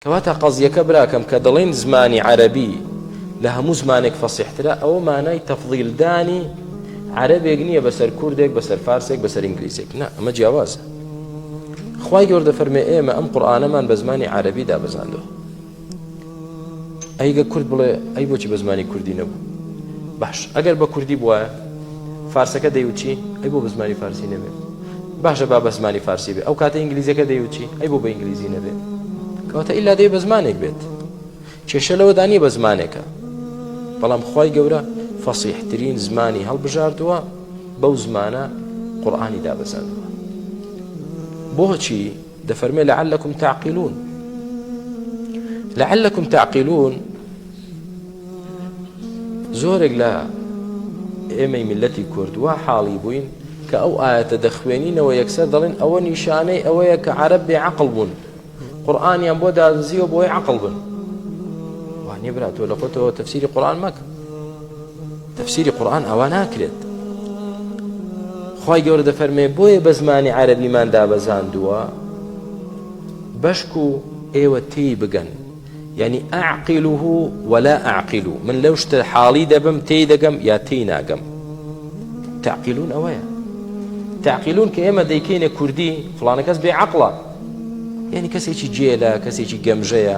کەواتە قەزیەکە براکەم کە دەڵێین زمانی عەرەبی لە هەموو زمانێک فەسیحترە ئەوە مانای تەفضیلدانی عەرەبێک نییە بەسەر کوردێک بەسەر فارسێک بەسەر ئینگلیزێک نا ئەمە جیاوازە خی گەوردە فەرمێ ئێمە ئەم قورآانەمان بە زمانی عربی دابزاندەوە ئەیگە کورد بڵێ ئەی بۆچی بە زمانی کوردی نەبوو باش ئەگەر بە کوردی بواە فارسەکە دەیوچی ئەی بۆ بە زمانی فارسی نەبێت باشە با بە زمانی فارسی بێ ئەوکاتە ئینگلیزیەکە دەیوت چی؟ ئەی بۆ بە ئینگلیزی نەبێ؟ کەواتە ئیلا دەیە بە زمانێک بێت کێشە لەوەدا نییە بە زمانێکە بەڵام خوای گەورە فەسیحترین زمانی هەڵبژاردووە بەو زمانە قورآانی دابەزاندووە بۆچی دەفەرمێ لعلکم تعقلون لعلکم تعقلون زۆرێک لە ئێمەی میلەتی کورد وا حاڵی بووین کە ئەو ئاەتە دەخوێنینەوە یەکسەر دەڵێن ئەوە نیشانەی ئەوەیە کە عرب بێ عقل بوون قورآانیان بۆ دازیەوە بۆی عقل بن وانە برا تۆ لە خۆتەوە تەفسیری قورآان مەکە تەفسیری قورئان ئاوا ناکرێت خوای گەورە دەفەرمێ بۆیە بە زمانی عەرەبیمان دابەزاندووە بەشکو ئێوە تێی بگەن یعنی ئەعقیله ولا ئەعقیل من لەو شتە حاڵی دەبم تێی دەگەم یا تێی ناگەم تعقیلون ئەوەیە تعقیلون کە ئێمە دەیکەینە کوردی فلانە کەس بێ عقلە یعنی کەسێکی جێلە کەسێکی گەمژەیە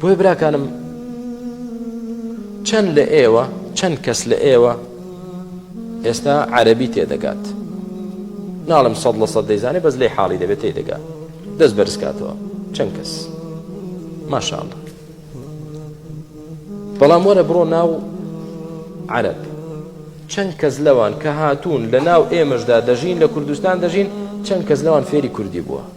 بۆیە براکانم چەند لە ئێوە چەند کەس لە ئێوە ئێستا عەربی تێدەگات ناڵم سەد لە سەد دەیزانێ بەس لێ حاڵی دەبێت تێ دەگات دەست بەرزکاتەوە چەند کەس ماشاءڵ بەڵام وەرە بڕۆ ناو عەرب چەند کەس لەوان کە هاتوون لە ناو ئێمەشدا دەژین لە کوردستان دەژین چەند کەس لەوان فێری کوردی بووە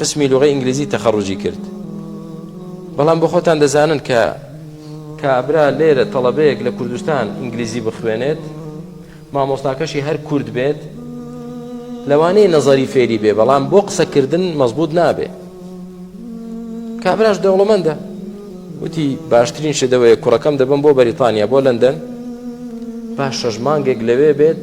قسمی لوغەی ئینگلیزی تەخەڕوجی کرد بەڵام بۆ خۆتان دەزانن کە کابرا لێرە تەڵەبەیەک لە کوردستان ئینگلیزی بخوێنێت مامۆستاکەشی هەر کورد بێت لەوانەیە نەزەری فێری بێ بەڵام بۆ قسەکردن مەزبوط نابێ کابراش دەوڵەمەندە وتی باشترین شدەوەیە کوڕەکەم دەبم بۆ بەریتانیا بۆ لەندەن پاش شەش مانگێک لەوێ بێت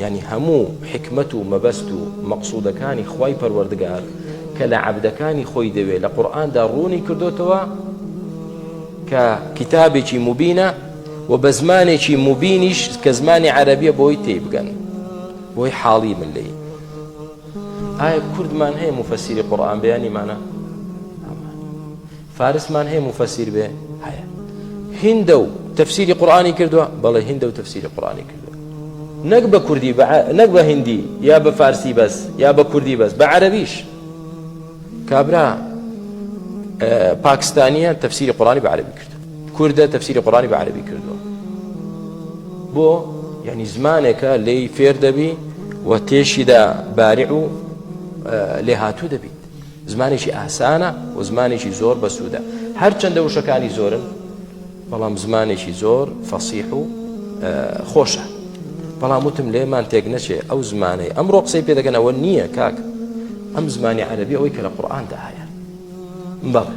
یانی هەموو حیکمەت و مەبەست و مەقسودەکانی خوای پەروەردگار کە لە عەبدەکانی خۆی دەوێ لە قورئاندا ڕوونی کردۆتەوە کە کیتابێکی موبینە و بە زمانێکی موبینیش کە زمانی عەرەبیە بۆی تێبگەن بۆی حاڵی من لێی ئایا کوردمان هەیە مفەسیری قورئان بەیانیمانە فارسمان هەیە موفەسیر بێ؟ هەیە. هیندە و تەفسیری قورئانی کردووە؟ بەڵێ هیندە و تەفسیری قورئانی کردووە. نەک بە کوردی بە نەک بە هیندی یا بە فارسی بەس یا بە کوردی بەس بە عەرەبیش. کابرا پاکستانییە تەفسیری قورئانی بە عەرەبی کردووە. کوردە تەفسیری قورئانی بە عەرەبی کردووە. بۆ؟ یعنی زمانێکە لێی فێر دەبی و تێشیدا بارع و لێهاتوو دەبیت. زمانێکی ئاسانە و زمانێکی زۆر بەسوودە هەرچەندە وشەکانی زۆرن بەڵام زمانێکی زۆر فەسیح و خۆشە بەڵام وتم لێمان تێک نەچێ ئەو زمانەی ئەم ڕۆقسەی پێدەگەنەوە نییە کاک ئەم زمانی عەربی ئەوەی کە لە قورآاندا هەیە بەڵێ